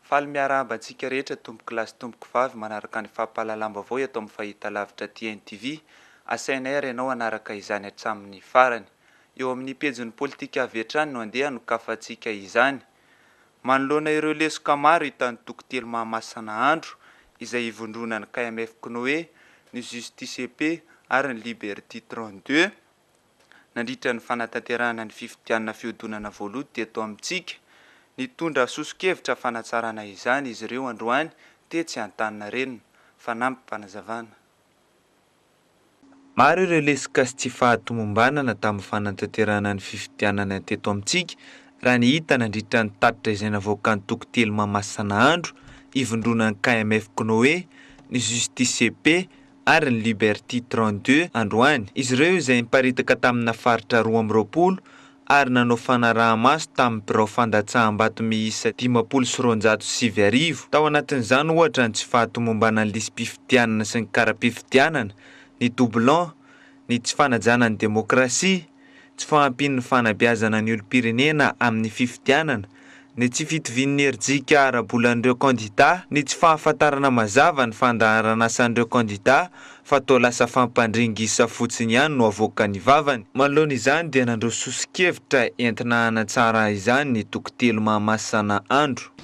Faly miarahaba antsika rehetra tompokolahy sy tompokovavy manaraka ny fampahalalam-baovao eto amin'ny Fahitalavitra TNTV. Asainay ary ianao hanaraka izany hatramin'ny farany. Eo amin'ny pejin'ny Politika avy hatrany no andeha hanokafantsika izany. Manoloana ireo lesoka maro hita any Toko telo Mahamasina Andro, izay ivondronan'ny KMF Cnoe, ny Justice et Paix ary ny Liberty 32, nandritra ny fanatanterahana ny fifidianana fihodonana voaloto teto amintsika. Nitondra soso-kevitra fanatsarana izany izy ireo androany tetsy Antaninarenina. Fanampim-panazavana. Maro ireo lesoka sy tsy fahatomombanana tamin'ny fanatanterahana ny fifidianana teto amintsika raha ny hita nandritra ny tatitra izay navoakan'ny toko telo Mahamasina andro ivondronan'ny KMF Cnoe, ny Justice et Paix, ary ny Liberty 32 androany, izy ireo izay niparitaka tamina faritra roa amby roapolo ary nanao fanaraha-maso tamin'ny birao fandatsaham-bato miisa dimampolo sy roanjato sy sivy arivo, tao anatin'izany ohatra ny tsy fahatomombanan'ny lisi-pifidianana sy ny kara-pifidianana, ny doublons, ny tsy fanajana ny demokrasia, tsy fahampian'ny fanabeazana ny olom-pirenena amin'ny fifidianana, ny tsy fitovian'ny hery jika ara-bolan'ireo kandidà, ny tsy fahafantarana mazava ny fandaharanasan'ireo kandidà fa toa lasa fampandringisa fotsiny ihany no avoakan'ny vavany. Manoloana izany dia nandroso soso-kevitra entina hanatsara izany ny toko telo Mahamasana Andro.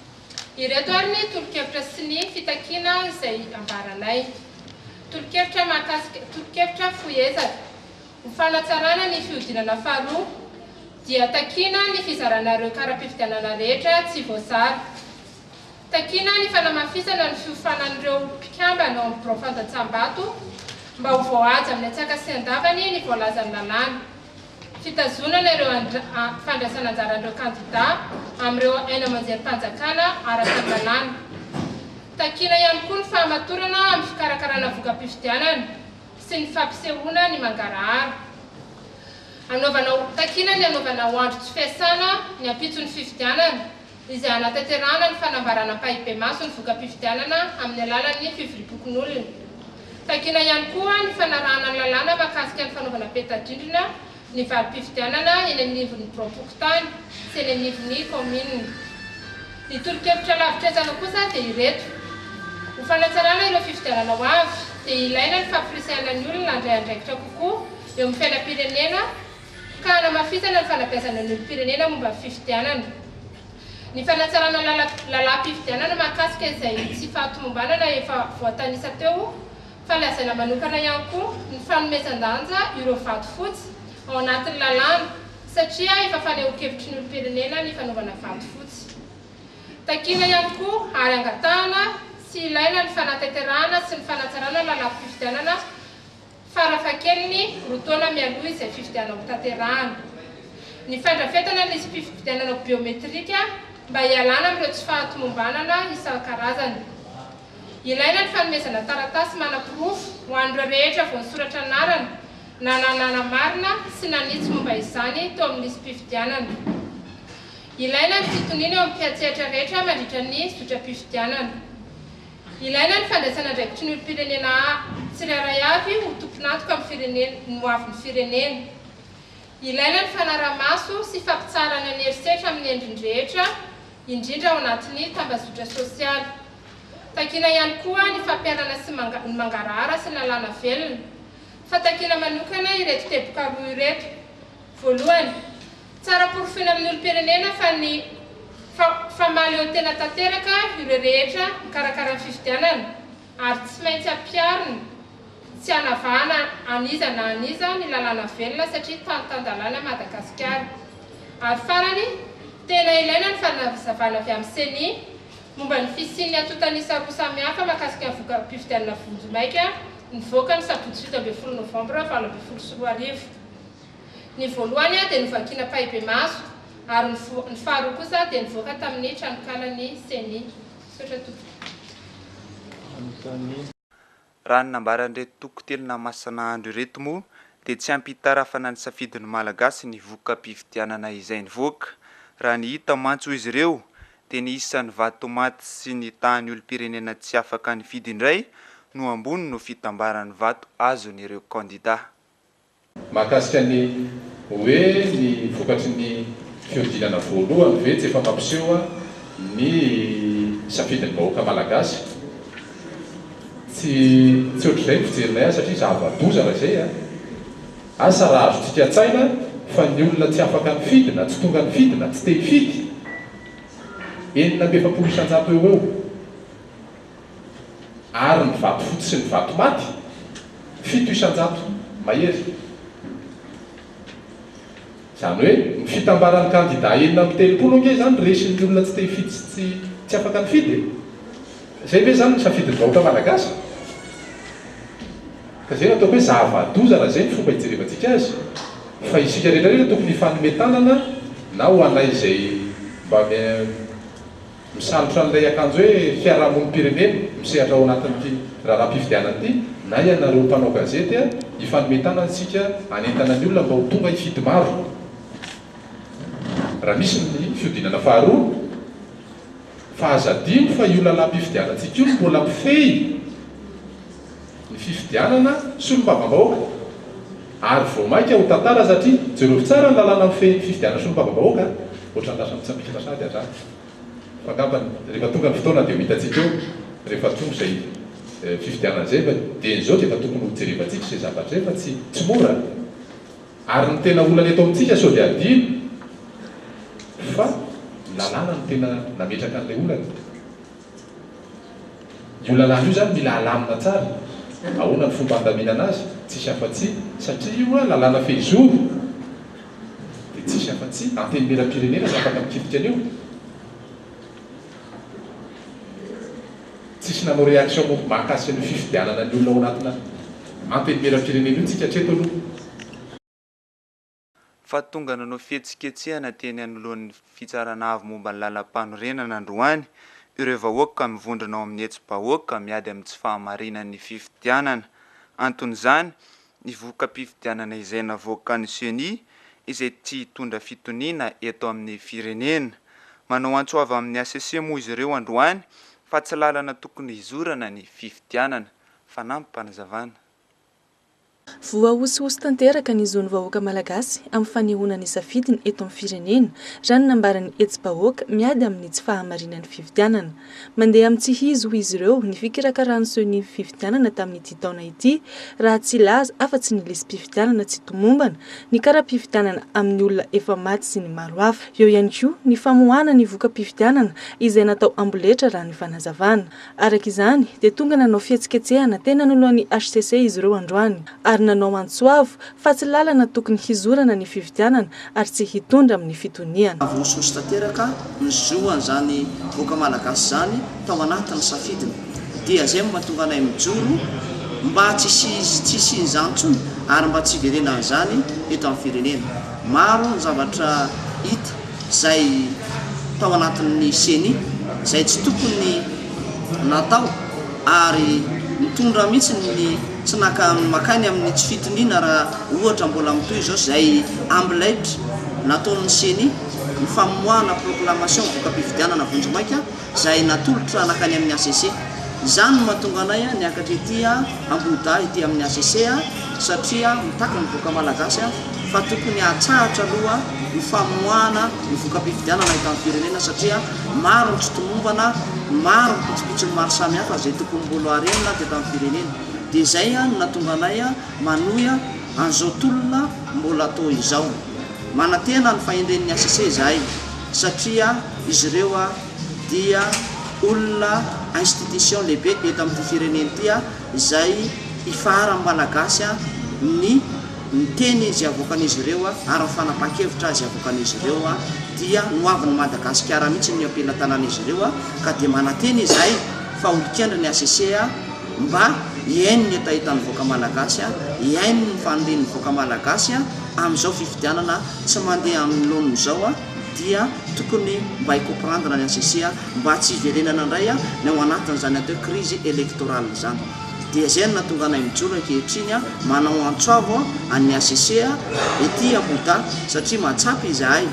Ireto ary ny tolo-kevitra sy ny fitakiana izay ambaranay. Tolo-kevitra mahakasika tolo-kevitra fohy ezaka ho fanatsarana ny fihodinana faharoa dia takiana ny fizarana ireo kara-pifidianana rehetra tsy voazara. Takiana ny fanamafisana ny fiofanan'ireo mpikambana ao amin'ny birao fandatsaham-bato mba ho voahaja amin'ny antsakasihan-davany ny voalazan'ny lalàna. fitazonana ireo fandraisan'anjaran'ireo kandidà amin'ireo haino aman-jerim-panjakana araka ny lalàna. Takiana ihany koa ny fahamatorana amin'ny fikarakarana voka-pifidianana sy ny fampisehoana ny mangarahara. Anaovana, takiana ny anaovana andro tsy fiasana ny ampitson'ny fifidianana, izay hanatanterahana ny fanambarana ampahibemaso ny voka-pifidianana amin'ny alalan'ny fivoriam-pokonolona. Takiana ihany koa ny fanarahana ny lalàna mahakasika ny fanaovana peta-drindrina ny valim-pifidianana eny anivon'ny biraom-pokontany sy eny anivon'ny kaominina. Ny tolo-kevitra lavitr'ezaka kosa dia ireto, Ho fanatsarana ireo fifidianana ho avy dia ilaina ny fampirisihana ny olona handray andraikitra kokoa eo amin'ny fiainam-pirenena, ka hanamafisana ny fanabeazana ny olom-pirenena momba ny fifidianana, ny fanatsarana ny lalàm-pifidianana mahakasika izay tsy fahatomombanana efa voatanisa teo fa lazaina manokana ihany koa ny fanomezan-danja ireo vato fotsy ao anatin'ny lalàna satria efa fanehoan-kevitry ny olom-pirenena ny fanaovana vato fotsy. Takiana ihany koa ary angatahana sy ilaina ny fanatanterahana sy ny fanatsarana ny lalàm-pifidianana farafahakeliny roa taona mialoha izay fifidianana hotanterahana. Ny fandrafetana ny lisi-pifidianana biometrika mba hialana amin'ireo tsy fahatomombanana isan-karazany. Ilaina ny fanomezana taratasy manaporofo ho an'ireo rehetra voasoratra anarana na nanamarina sy nanitsy momba izany teo amin'ny lisi-pifidianana. Ilaina ny fitoniana eo amin'ny mpiantsehatra rehetra mandritra ny zotram-pifidianana. Ilaina ny fandraisana andraikitry ny olom-pirenena tsirairay avy ho tompon'antoka amin'ny firenena ny ho avin'ny firenena. Ilaina ny fanarahamaso sy fampitsaharana ny herisetra amin'ny endriny rehetra, indrindra ao anatin'ny tambazotra sosialy. Takiana ihany koa ny fampiharana sy ny mangarahara sy ny lalàna velona. Fa takiana manokana ireto teboka roa ireto. Voalohany, Tsara porofona amin'ny olom-pirenena fa ny fa fa mahaleotena tanteraka ireo rehetra mikarakara ny fifidianana ary tsy maintsy ampiharina tsy hanavahana an'iza na an'iza ny lalàna velona satria tany tan-dalàna Madagasikara. Ary farany, tena ilaina ny fanazavana avy amin'ny Ceni momba ny fisian'ny antontan'isa roa samihafa mahakasika ny vokam-pifidianana vonjimaika nivoaka ny sabotsy fito ambin'ny folo novambra valo ambin'ny folo sy roa arivo. Ny voalohany dia novakina ampahibemaso ary ny faharoa kosa dia nivoaka tamin'ny tranonkalan'ny Ceni. Misaotra Tompoko. Raha ny nambaran'ireto Toko Telina Masina Andro ireto moa dia tsy ampy hitarafana ny safidin'ny Malagasy ny vokam-pifidianana izay nivoaka. Raha ny hita mantsy hoy izy ireo dia ny isan'ny vato maty sy ny tahan'ny olom-pirenena tsy afaka nifidy indray no ambony noho fitambaran'ny vato azon'ireo kandida. Mahakasika ny hoe ny vokatry ny fihodinana voalohany ve tsy efa mampiseho ny safidin'ny vahoaka malagasy? Tsy tsy ohatr'izay ny fijerinay azy satria zava-doza raha izay an! Asa raha azontsika an-tsaina fa ny olona tsy afaka nifidy na tsy tonga nifidy na tsy te hifidy enina amby efapolo isan-jato eo ho eo. Ary ny vatofotsy sy ny vatomaty, fito isan-jato mahery. Izany hoe, ny fitambaran'ny kandidà enina amby telopolo ange izany resin'ny olona tsy te hifidy sy tsy tsy afaka nifidy e! Izay ve izany no safidin'ny vahoaka malagasy? Ka izay no ataoko hoe zava-doza raha izay no fomba hijerevantsika azy, fa isika rehetra rehetra tokony hifanome tanana na ho anay izay mba Misalotra an'ilay akanjo hoe fiarahamonim-pirenena misehatra ao anatin'ity raharaham-pifidianana ity na ianareo mpanao gazety a! Hifanome tanana isika hanentana ny olona mba ho tonga hifidy maro raha misy ny fihodinana faharoa fa aza adino fa io lalam-pifidianantsika io mbola mifehy ny fifidianana solombavambahoaka ary vao maika ho tantara satria jereo tsara ny lalàna mifehy ny fifidianana solombavambahoaka a! Ohatran'ny lasa mitsambikina sahady an-dra fa angamba rehefa tonga ny fotoana dia ho hitantsika eo rehefa tonga izay fifidianana izay fa dieny izao dia efa tokony ho jerevantsika izay zavatra izay fa tsy tsy mora ary ny tena olana eto amintsika sao dia adino fa ny lalàna no tena nametraka an'ilay olana. Io lalàna io zany mila alamina tsara, ahoana ny fomba handaminana azy, tsisy afa-tsy, satria io a lalàna fehizoro, dia tsisy afa-tsy antenimieram-pirenena no afaka mikitika an'io. Tsisy nanao réaction momba mahakasika an'io fifidianana ny olona ao anatina antenimieram-pirenena io tsika hatreto aloha. fa tonga nanao fihetsiketsehana teny anoloan'ny Fitsarana Avo momba ny Lalampanorenana androany ireo vahoaka mivondrona ao amin'ny hetsi-bahoaka miady amin'ny tsy fahamarinan'ny fifidianana. Anton'izany, ny voka-pifidianana izay navoakan'ny Ceni izay tsy hitondra fitoniana eto amin'ny firenena. Manao antso avy amin'ny hcc moa izy ireo androany fa tsy lalana tokony hizorana ny fifidianana, fanampim-panazavana. Voahosihosy tanteraka ny zon'ny vahoaka malagasy amin'ny fanehoana ny safidiny eto amin'ny firenena, raha ny nambaran'ny hetsi-bahoaka miady amin'ny tsy fahamarinan'ny fifidianana. Mandeha amin'ny tsy izy hoy izy ireo ny fikarakaràn'ny Ceni ny fifidianana tamin'ity taona ity, raha tsy hilaza afa-tsy ny lisi-pifidianana tsy tomombana, ny kara-pifidianana amin'ny olona efa maty sy ny maro hafa. Eo ihany koa ny famoahana ny voka-pifidianana izay natao amboletra, raha ny fanazavana. Araka izany, dia tonga nanao fihetsiketsehana teny anoloan'ny hcc izy ireo androany, ary nanao antso avo fa tsy lalana tokony hizorana ny fifidianana ary tsy hitondra amin'ny fitoniana. Voasosy tanteraka ny zo an'izany vahoaka Malagasy izany tao anatin'ny safidiny, dia izay no mahatonga anay mijoro mba tsy hisian'izany intsony ary mba tsy hiverenan'izany eto amin'ny firenena. Maro ny zavatra hita izay tao anatin'ny ceni izay tsy tokony natao ary mitondra mihitsy ny tsy naka makany amin'ny tsy fitoniana raha ohatra mbola mitohy izao izay ambilaitra nataon'ny ceni ny famoahana proclamation voka-pifidianana vonjimaika izay natolotra nankany amin'ny HCC. Izany no mahatonga anay niakatra ety Ambohidahy ety amin'ny HCC satria mitaky ny vahoaka Malagasy fa tokony hahatsahatra aloha ny famoahana ny voka-pifidianana eto am-pirenena satria maro ny tsy tomombana, maro ny pitsopitsony maro samihafa izay tokony mbolo harenina teto amin'ny firenena. Dia izay no nahatonga anay manohy an'izao tolona mbola toa izao. Manantena ny fahendren'ny HCC izahay. satria izy ireo dia olona institution lehibe eto amin'ity firenena ity izay ifaharan'ny Malagasy ny ny teny izay avoakan'izy ireo ary ny fanapahan-kevitra izay avoakan'izy ireo dia ny hoavin'i Madagasikara mihitsy no am-pelatanan'izy ireo ka dia manantena izahay fa ho dikandry ny HCC mba hihaino ny hetahetan'ny vahoaka Malagasy, hihaino ny fanirian'ny vahoaka Malagasy amin'izao fifidianana tsy mandeha aminy laoniny izao a dia tokony mba hi comprendre ny HCC a mba tsy hiverenana indray a ny ao anatin'izany atao hoe crise electorale izany dia izay no nahatonga anay mijoro ankehitriny a manao antso avo an'ny HCC a ety Ahuda satria mahatsapa izahay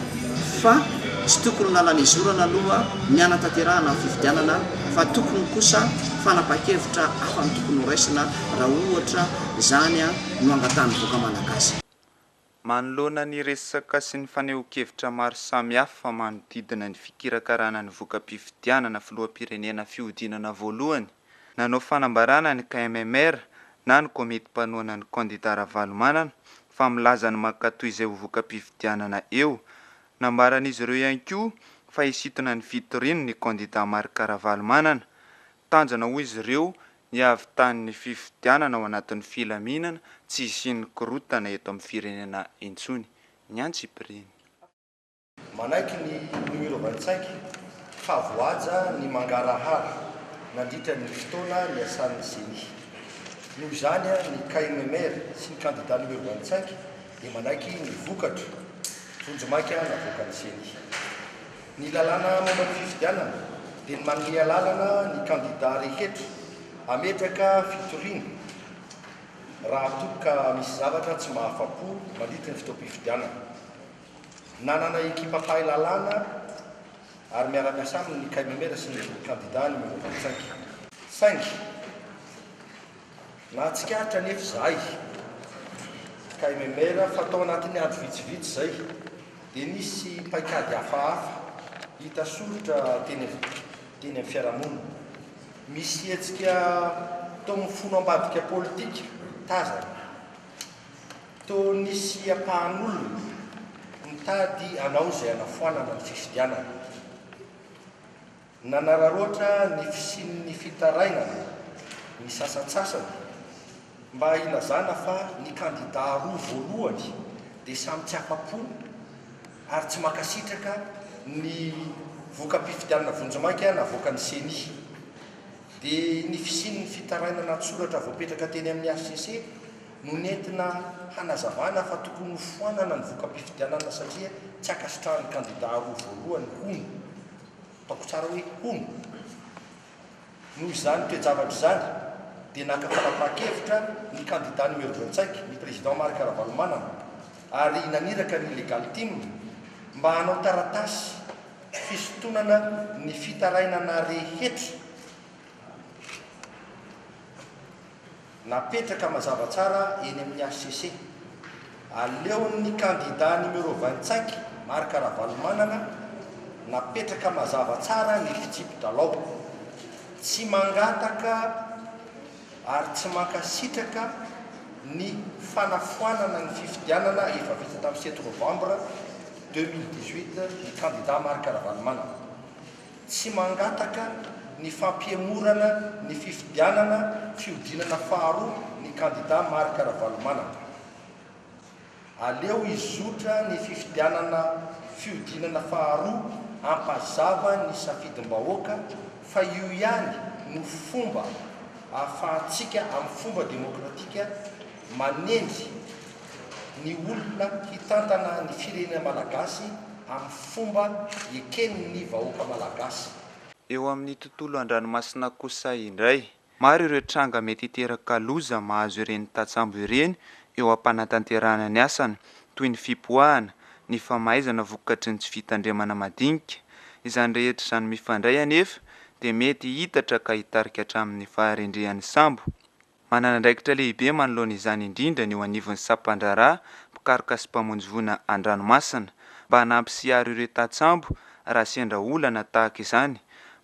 fa tsy tokony lalana izorana aloha ny hanatanterahana ny fifidianana fa tokony kosa fanapakevitra hafa no tokony horaisina raha ohatra izany a no angatahan'ny vahoaka malagasy. Manoloana ny resaka sy ny fanehoan-kevitra maro samihafa manodidina ny fikirakarana ny voka-pifidianana filoham-pirenena fihodinana voalohany, nanao fanambarana ny KMMR na ny komity mpanohana ny kandida Ravalomanana fa milaza ny mankatoa izay ho voka-pifidianana eo. Nambaran'izy ireo ihany koa fa hisintona ny fitoriany ny kandida Marc Ravalomanana. Tanjona hoy izy ireo Ny havitan'ny fifidianana ao anatin'ny filaminana tsy hisian'ny korontana eto amin'ny firenena intsony, ny antsipiriany. Manaiky ny nohirovan-tsaingy fa voahaja ny mangarahara nandritra ny fotoana niasan'ny Ceni. Noho izany, ny KMMR sy ny kandidà nohirovan-tsaingy dia manaiky ny vokatra vonjimaika navoakan'ny Ceni. Ny lalàna momba ny fifidianana dia ny manome alalana ny kandida rehetra hametraka fitoriana raha toa ka misy zavatra tsy mahafa-po mandritra ny fotoam-pifidianana. Nanana ekipa mpahay lalàna ary miara-miasa aminy ny Caimamera sy ny kandida Numéro vingt-cinq. Saingy Nahatsikaritra anefa izahay, KMMR, fa tao anatin'ny andro vitsivitsy izay dia nisy paikady hafahafa hita soritra teny amin'ny fiarahamonina. Misy hetsika toa mifono ambadika politika tazana, toa nisy ampahan'olona mitady hanao izay hanafoanana ny fifidianana. Nanararaotra ny fisian'ny fitarainana ny sasantsasany mba hilazana fa ny kandidà roa voalohany dia samy tsy afa-po ary tsy mankasitraka ny voka-pifidianana vonjimaika navoakan'ny Ceni. Dia ny fisian'ny fitarainana an-tsoratra voapetraka teny amin'ny hcc no nentina hanazavana fa tokony ho foanana ny voka-pifidianana satria tsy ankasitrahan'ny kandidà roa voalohany, hono. Ataoko tsara hoe hono. Noho izany toe-javatra izany dia naka fanapahan-kevitra ny kandida numéro vingt-cinq, ny président Marc Ravalomanana, ary naniraka ny Legal Team mba hanao taratasy fisintonana ny fitarainana rehetra. Napetraka mazava tsara eny amin'ny hcc. Aleon'ny kandida numéro vingt cinq Marc Ravalomanana napetraka mazava tsara ny fitsipi-dalao. Tsy mangataka ary tsy mankasitraka ny fanafoanana ny fifidianana efa vita tamin'ny sept novambra deux mille dix huit ny kandida Marc Ravalomanana. Tsy mangataka ny fampihemorana ny fifidianana fihodinana faharoa ny kandida Marc Ravalomanana. Aleo hizotra ny fifidianana fihodinana faharoa hampazava ny safidim-bahoaka fa io ihany no fomba ahafahantsika amin'ny fomba demokratika Manendry ny olona hitantana ny firenena malagasy amin'ny fomba eken'ny vahoaka malagasy. Eo amin'ny tontolo an-dranomasina kosa indray. Maro ireo tranga mety hiteraka loza mahazo ireny tatsambo ireny eo am-panatanterahana ny asany, toy ny fipoahana, ny famaizana vokatry ny tsy fitandremana madinika. Izany rehetra izany mifandray anefa dia mety hiitatra ka hitarika hatramin'ny faharendrehan'ny sambo. Manana andraikitra lehibe manoloana izany indrindra ny eo anivon'ny sampan-draharaha mpikaroka sy mpamonjy voina an-dranomasina, mba hanampy sy hiaro ireo tantsambo raha sendra olana tahaka izany.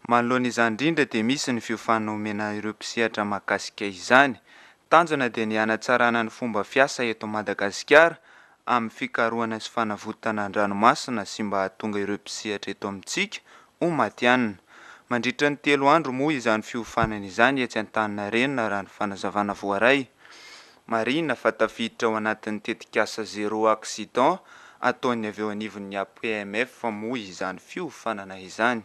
Manoloana izany indrindra dia misy ny fiofanana omena ireo mpisehatra mahakasika izany. Tanjona dia ny hanatsarana ny fomba fiasa eto Madagasikara amin'ny fikarohana sy fanavotana an-dranomasina sy mba hahatonga ireo mpisehatra eto amintsika ho matihanina. Mandritra ny telo andro moa izany fiofanana izany etsy Antaninarenina raha ny fanazavana voaray. Marihina fa tafiditra ao anatin'ny tetikasa Zero Accident ataon'ny avy eo anivon'ny APMF moa izany fiofanana izany.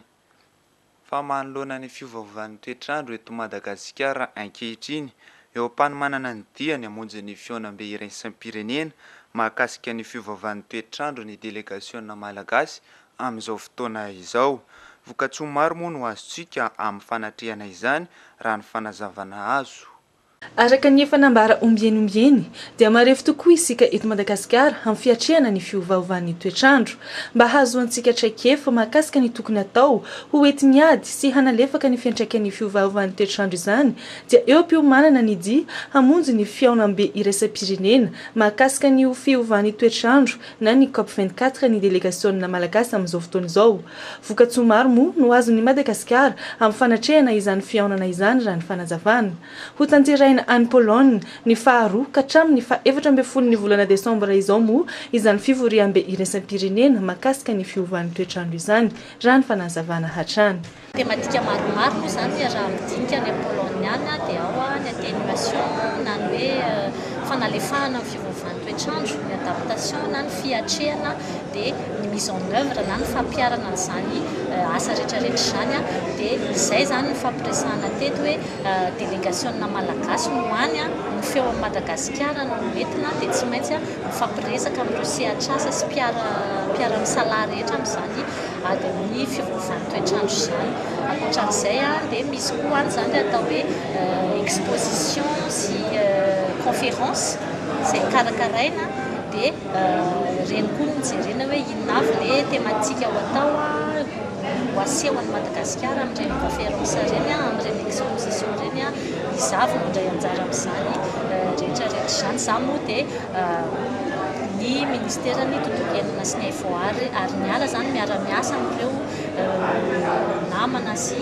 fa manoloana ny fiovaovan'ny toetr'andro eto Madagasikara ankehitriny, eo am-panomanana ny diany hamonjy ny fihaonambe iraisam-pirenena mahakasika ny fiovaovan'ny toetr'andro ny delegasionina malagasy amin'izao fotoana izao. Vokatsoa maro moa no azontsika amin'ny fanatrehana izany, raha ny fanazavana azo. Araka ny efa nambara ombieny ombieny dia marefo tokoa isika eto Madagasikara amin'ny fiatrehana ny fiovaovan'ny toetr'andro. Mba hahazoantsika traikefa mahakasika ny tokony atao ho entin'ny ady sy hanalefaka ny fiantraikan'ny fiovaovan'ny toetr'andro izany dia eo am-piomanana ny dia hamonjy ny fihaonambe iraisam-pirenena mahakasika ny fiovan'ny toetr'andro na ny Cop vingt quatre ny delegasionina malagasy amin'izao fotoana izao. Vokatsoa maro moa no azon'i Madagasikara amin'ny fanatrehana izany fihaonana izany raha ny fanazavana. Hotanterahina any Pologne ny faharoa ka hatramin'ny fahefatra ambin'ny folon'ny volana desambra izao moa izany fivoriambe iraisam-pirenena makasika ny fiovan'ny toetr'andro izany raha ny fanazavana hatrany. Temadika maromaro moa izany raha midinika ny Apoloniana dia ao ny atténuation na ny hoe fanalefahana ny fiovaovan'ny toetr'andro, ny adaptation na ny fiatrehana dia ny mise en œuvre na ny fampiharana an'izany asa retraretra izany dia izay izany ny fampiresahana teto hoe delegasiona malagasy no any no feo an'i Madagasikara no entina dia tsy maintsy mifampiresaka amin'ireo sehatr'asa sy mpiara-misalahy rehetra amin'izany adin'ny fiovaovan'ny toetr'andro izany. Ankoatra an'izay dia misy koa izany atao hoe exposition sy conférence izay karakaraina dia ireny koa no jerena hoe inona avy le thématique ho atao ho asehon'i Madagasikara amin'ireny conférence ireny, amin'ireny exposition ireny. Izaho vao mandray anjara amin'izany rehetra rehetra izany. Izaho moa dia ny Ministeran'ny Tontolo Iainana sy ny Haivoaary ary niala izany miara-miasa amin'ireo namana sy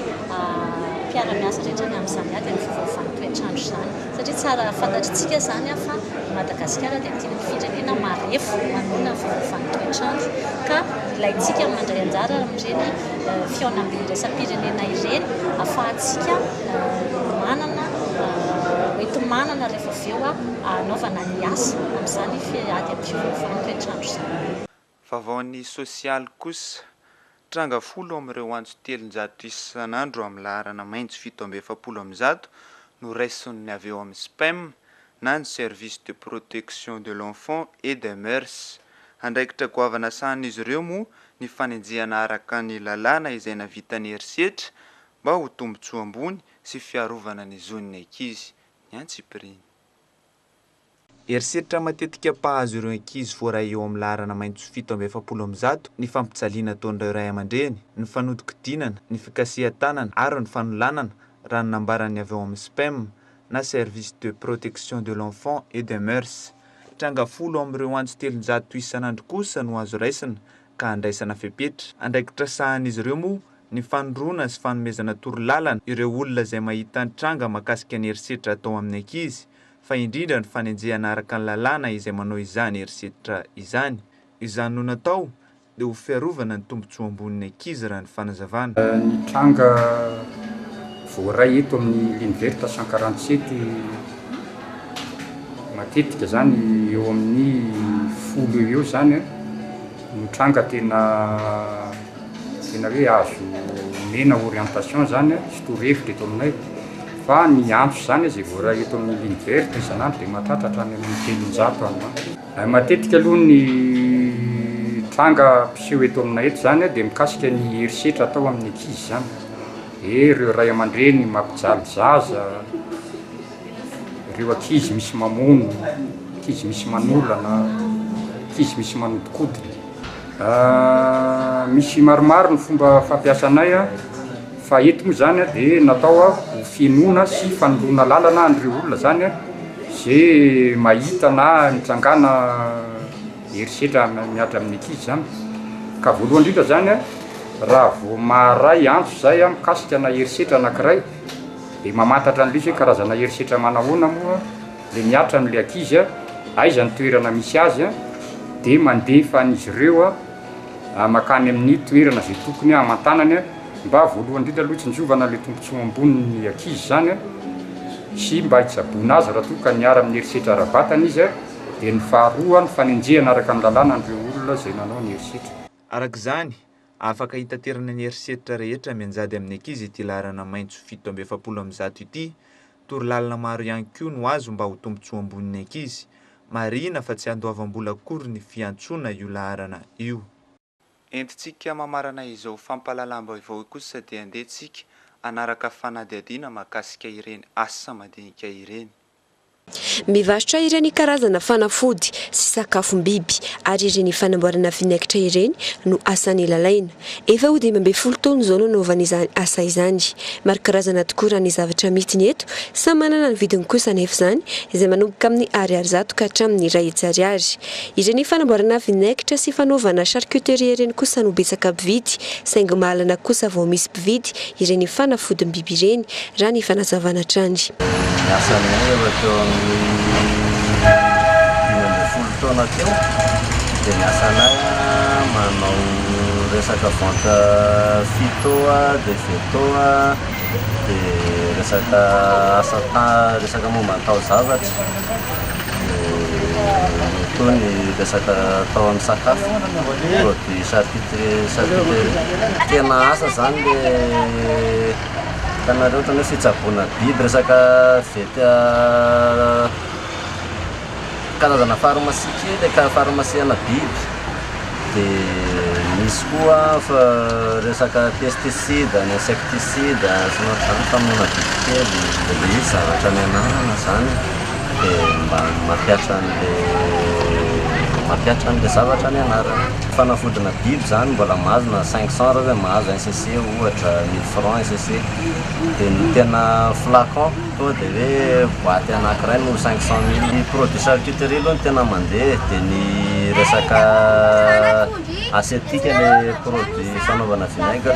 mpiara-miasa rehetra ny amin'izany ady amin'ny fiovaovan'ny toetr'andro izany satria tsara fantatritsika izany fa i Madagasikara dia ity ny firenena marefo manohana ny fiovaovan'ny toetr'andro ka ilaintsika mandray anjara amin'ireny fihaonambe iraisam-pirenena ireny ahafahantsika manana hoenti-manana rehefa avy eo hanaovana ny asa amin'izany ady amin'ny fiovaovan'ny toetr'andro izany. Vaovaon'ny sosialy kosa, tranga folo amin'ireo antso telonjato isan'andro amin'ny laharana maitso fito amby efapolo amin'ny zato no raisin'ny avy eo amin'ny SPEM na ny Service de Protection de l'Enfant et des Mœurs. Andraikitra goavana sahanin'izy ireo moa ny fanenjehana araka ny lalàna izay navitan'ny herisetra mba ho tombontsoa ambony sy fiarovana ny zon'ny ankizy ny antsipiriany. Herisetra matetika mpahazo ireo ankizy voaray eo amin'ny laharana maitso fito amby efapolo amin'ny zato ny fampijaliana ataon'ireo ray aman-dreny, ny fanodinkodinana, ny fikasihan-tanana ary ny fanolanana, raha ny nambaran'ny avy ao amin'ny SPEM na Service de Protection de l'Enfant et des Mœurs. Tranga folo amin'ireo antso telonjato isan'andro kosa no azo raisina ka handraisana fepetra. Andraikitra sahanin'izy ireo moa ny fanondroana sy fanomezana torolalana ireo olona izay mahita ny tranga mahakasika ny herisetra atao amin'ny ankizy, fa indrindra ny fanenjehana araka ny lalàna izay manao izany herisetra izany. Izany no natao dia ho fiarovana ny tombontsoa ambonin'ny ankizy raha ny fanazavana. Ny tranga voaray eto amin'ny L'Univerta Sankarantsety. Matetika izany eo amin'ny folo eo ho eo izany no tranga tena tena hoe azo omena orientation izany sy torohevitra eto aminay. Fa ny antso izany izay voaray eto amin'ny ligne verte isan'andro dia mahatratra hatrany amin'ny telonjato any ho any. Matetika aloha ny tranga mpiseho eto aminay eto izany dia mikasika ny herisetra atao amin'ny ankizy izany. Ee reo ray amandreny mampijaly zaza, reo ankizy misy mamono, ankizy misy manolana, ankizy misy manodikodina. Misy maromaro ny fomba fampiasanay fa eto moa zany dia natao ho fihenoana sy fanondroana lalana an'ireo olona zany ze mahita na nitrangana Herisetra miadra amin'ny ankizy izany ka voalohany indrindra izany raha vao maharay antso izay mikasika ana herisetra anankiray dia mamantatra an'ilay izy hoe karazana herisetra manahoana moa ilay mihatra amin'ilay ankizy a, aiza ny toerana misy azy a, dia mandefa an'izy ireo makany amin'ny toerana izay tokony hamantanany a, mba voalohany indrindra aloha hitsinjovana ilay tombontsoa ambonin'ny ankizy izany a, sy mba hitsaboana azy raha toa ka miara-amin'ny herisetra ara-batana izy a. Dia ny faharoa, ny fanenjehana araka ny lalàna an'ireo olona izay nanao ny herisetra. Araka izany, afaka hitaterana ny herisetra rehetra mianjady amin'ny ankizy ity laharana maitso fito amby efapolo amin'ny zato ity. Torolalana maro ihany koa no azo mba ho tombontsoa ambon'ny ankizy. Marihina fa tsy andoavam-bola akory ny fiantsoana io laharana io. Entintsika mamarana izao fampahalalam-baovao kosa dia andeha tsika hanaraka fanadihadiana mahakasika ireny asa madinika ireny. Mivarotra ireny karazana fanafody sy sakafom-biby ary ireny fanamboarana vinaigitra ireny no asany lalaina. Efa ho dimy ambin'ny folo taona izao no anaovany izany asa izany. Maro karazana tokoa raha ny zavatra amidiny eto, samy manana ny vidiny kosa anefa izany izay manomboka amin'ny ariary zato ka hatramin'ny iray hetsy ariary. Ireny fanamboarana vinaigitra sy fanaovana charcuterie ireny kosa no betsaka mpividy, saingy mahalana kosa vao misy mpividy ireny fanafodim-biby ireny, raha ny fanazavana hatrany. Ny asan'ny heva teo amin'ny dimy ambin'ny folo taona teo dia ny asanay manao resaka vente phyto dia veto dia resaka asa resaka momba ny taozavatra. Nitohy ny resaka tao amin'ny sakafo, koa dia charcuterie, charcuterie, tena asa izany le hitanareo ohatran'ny hoe fitsaboana biby, resaka vt- karazana pharmacie kely, pharmacie ana biby. Dia misy koa resaka pesticide, insecticide sy ny ohatr'izany famonoana bibikely. Dia misy zavatra nianarana izany dia mba mampihatra an'ilay mampihatra an'ilay zavatra nianarana. Fanafodina biby izany mbola mahazo na cinq cent raha hoe mahazo un cc ohatra, mille francs un cc. Dia ny tena flacon. Tonga dia hoe boite anankiray no cinq cent mille. Ny produits charcuterie aloha no tena mandeha e, dia ny resaka aseptique ilay produits fanaovana vinaigre,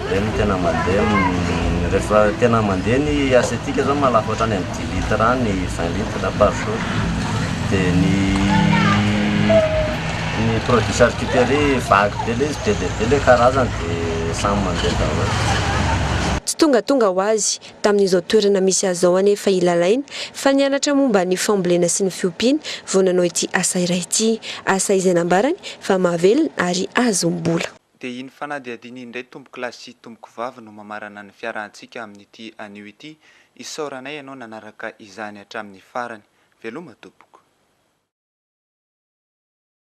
ireny no tena mandeha amin'ny, rehefa tena mandeha ny aseptique izao maha lafo hatrany amin'ny dix litres any ny vingt litres par jour, dia ny ny produits charcuterie vague be ilay izy, be dia be ilay karazany dia samy mandeha daholo. Tsy tongatonga ho azy Tamin'izao toerana misy azy izao anefa i Lalaine fa nianatra momba ny fambolena sy ny fiompiana vao nanao ity asa iray ity. Asa izay nambarany fa mahavelona ary ahazom-bola. Dia iny fanadihadiana iny indray tompoko lahy sy tompoko vavy no mamarana ny fiarahantsika amin'ity anio ity. Isaoranay ianao nanaraka izany hatramin'ny farany. Veloma tompoko.